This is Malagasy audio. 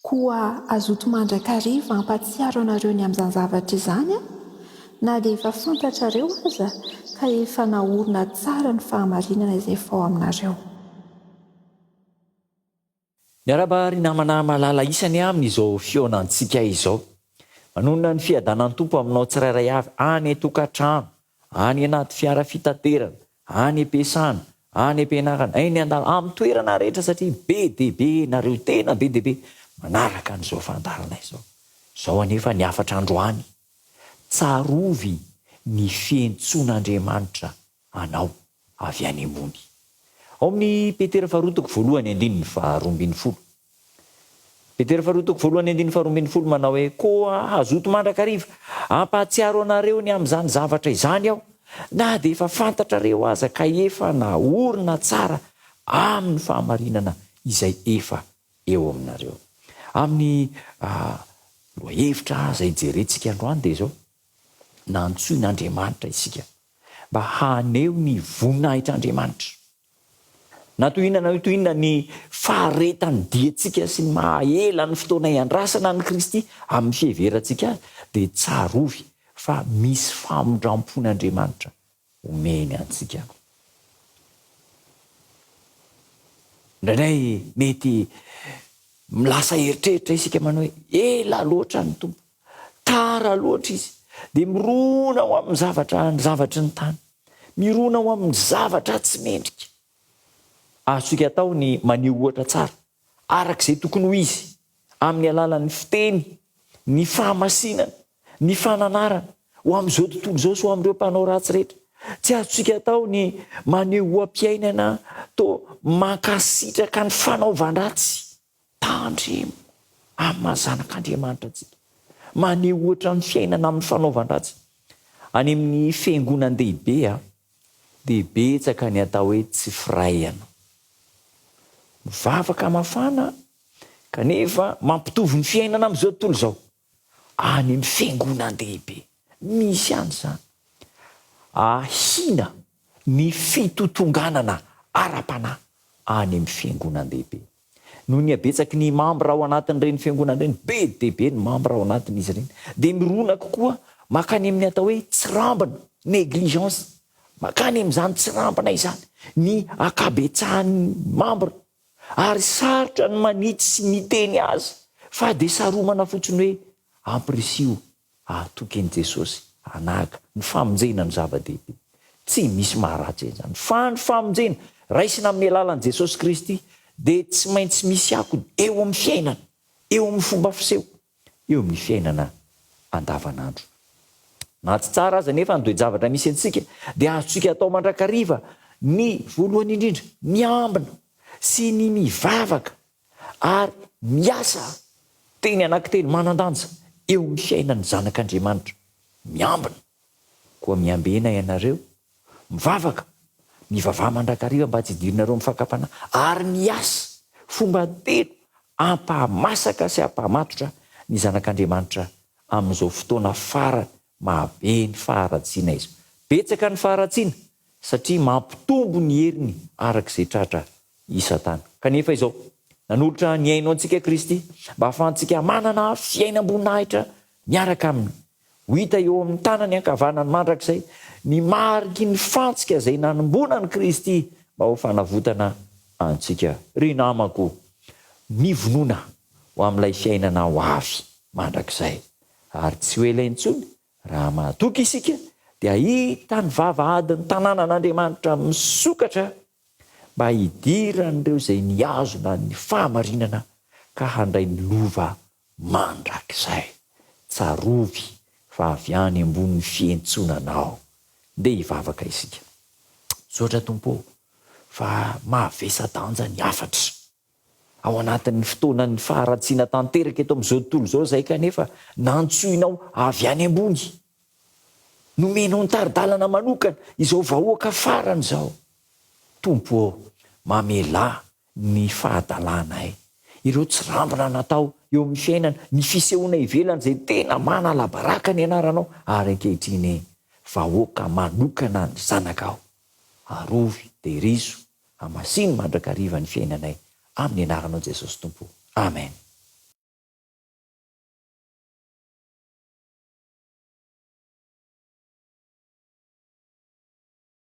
Koa azoto mandrakariva hampatsiaro anareo ny amin'izany zavatra izany aho, na dia efa fantatrareo aza ka efa naorina tsara ny fahamarinana izay efa ao aminareo. Miarahaba ry namana malala isany amin izao fihaonan tsika izao. Manonona ny fiadanan Tompo aminao tsirairay avy any atokatrano, any anaty fiara fitaterana, any ampiasana, any ampianarana, eny andal amin toerana rehetra satria be dia be nareo tena be dia be manaraka an izao fandaharana izao. Zao anefa ny hafatra androany. Tsarovy ny fientsoan Andriamanitra anao. avy any ambony. Ao amin'ny Petera faharoa toko voalohany andininy faharoa ambin'ny folo. Petera faharoa toko voalohany andininy faharoa ambin'ny folo manao hoe, Koa hazoto mandrakariva hampahatsiaro anareo ny amin'izany zavatra izany aho, na dia efa fantatrareo aza ka efa naorina tsara amin'ny fahamarinana izay efa eo aminareo. Amin'ny lohahevitra izay jerentsika androany dia izao. nantsoin'Andriamanitra isika mba haneho ny voninahitr'Andriamanitra. Na toy inona na toy inona ny faharetan'ny diantsika sy ny maha ela ny fotoana iandrasana an'i Kristy amin'ny fiheverantsika Azy, dia tsarovy fa misy famindrampon'Andriamanitra omeny antsika. Indraindray mety milasa eritreritra isika manao hoe ela loatra ny Tompo, tara loatra Izy, dia mirona ho amin'ny zavatra ny zavatry ny tany, mirona ho amin'ny zavatra tsy mendrika. Azontsika atao ny maneho ohatra tsara araka izay tokony ho izy amin'ny alalan'ny fiteny, ny fahamasinana, ny fananarana ho amin'izao tontolo izao sy ho amin'ireo mpanao ratsy rehetra. Tsy azontsika atao ny maneho oha-piainana toa mankasitraka ny fanaovan-dratsy. Tandremo amin'ny maha zanak'Andriamanitra antsika. Maneho ohatra amin'ny fiainana amin'ny fanaovan-dratsy. Any amin'ny fiangonan-dehibe dia betsaka ny atao hoe tsy firaiana. Mivavaka mafana kanefa mampitovy ny fiainana amin'izao tontolo izao. any amin'ny fiangonan-dehibe. Misy ihany izany. Ahiana ny fitotonganana ara-panahy any amin'ny fiangonan-dehibe. Noho ny habetsaky ny mambra ao anatin'ireny fiangonana ireny, be dia be ny mambra ao anatin'izy ireny, dia mirona kokoa mankany amin'ny atao hoe tsirambina, négligence, mankany amin'izany tsirambina izany ny ankabetsahan'ny mambra Ary sarotra ny manitsy sy miteny azy fa dia saromana fotsiny hoe ampirisiho hahatoky an'i Jesosy hanahaka ny famonjena no zava-dehibe. Tsy misy maharatsy an'izany fa ny famonjena raisina amin'ny alalan'i Jesosy Kristy dia tsy maintsy misy akony eo amin'ny fiainana, eo amin'ny fomba fiseho. eo amin'ny fiainana andavanandro. Na tsy tsara aza anefa ny toe-javatra misy antsika, dia azontsika atao mandrakariva ny, voalohany indrindra, miambina sy ny mivavaka ary miasa. Teny anankitelo manan-danja eo amin'ny fiainan'ny zanak'Andriamanitra, miambina. Koa miambena ianareo, mivavaka, mivavaha mandrakariva mba tsy hidirinareo amin'ny fakam-panahy, ary miasa fomba telo hampahamasaka sy hampahamatotra ny zanak'Andriamanitra amin'izao fotoana fara mahabe ny faharatsiana izao. Betsaka ny faharatsiana satria mampitombo ny heriny araka izay tratra i Satana. Kanefa izao, nanolotra ny haino antsika Kristy mba hahafahantsika manana fiainam-boninahitra miaraka aminy. Ho hita eo amin'ny tanany ankavanany mandrakizay ny mariky ny fantsika izay nanimbona an'i Kristy mba ho fanavotana antsika. Ry namako, mivonona ho amin'ilay fiainana ho avy mandrakizay, ary tsy ho ela intsony, raha mahatoky isika, dia hahita ny vavahadin'ny tanànan'Andriamanitra misokatra mba hidiran'ireo izay nihazona ny fahamarinana ka handray ny lova Mandrakizay, tsarovy fa avy any ambonin'ny fihentsonanao ndeha hivavaka isika. Misaotra Tompo ô, fa mavesa-danja ny hafatra. Ao anatin'ny fotoanan'ny faharatsiana tanteraka eto amin'izao tontolo izao izahay kanefa nantsoinao avy any ambony. Nomenao ny tari-dalana manokana izao vahoaka farany izao. Tompo ô, mamelà ny fahadalanay, ireo tsirambina natao eo amin'ny fiainana, ny fisehoana ivelany izay tena manalabaraka ny anaranao ary ankehitriny vahoaka manokana ny zanakao. Arovy, terizo, hamasino mandrakariva ny fiainanay amin'ny anaranao Jesosy Tompo. Amen.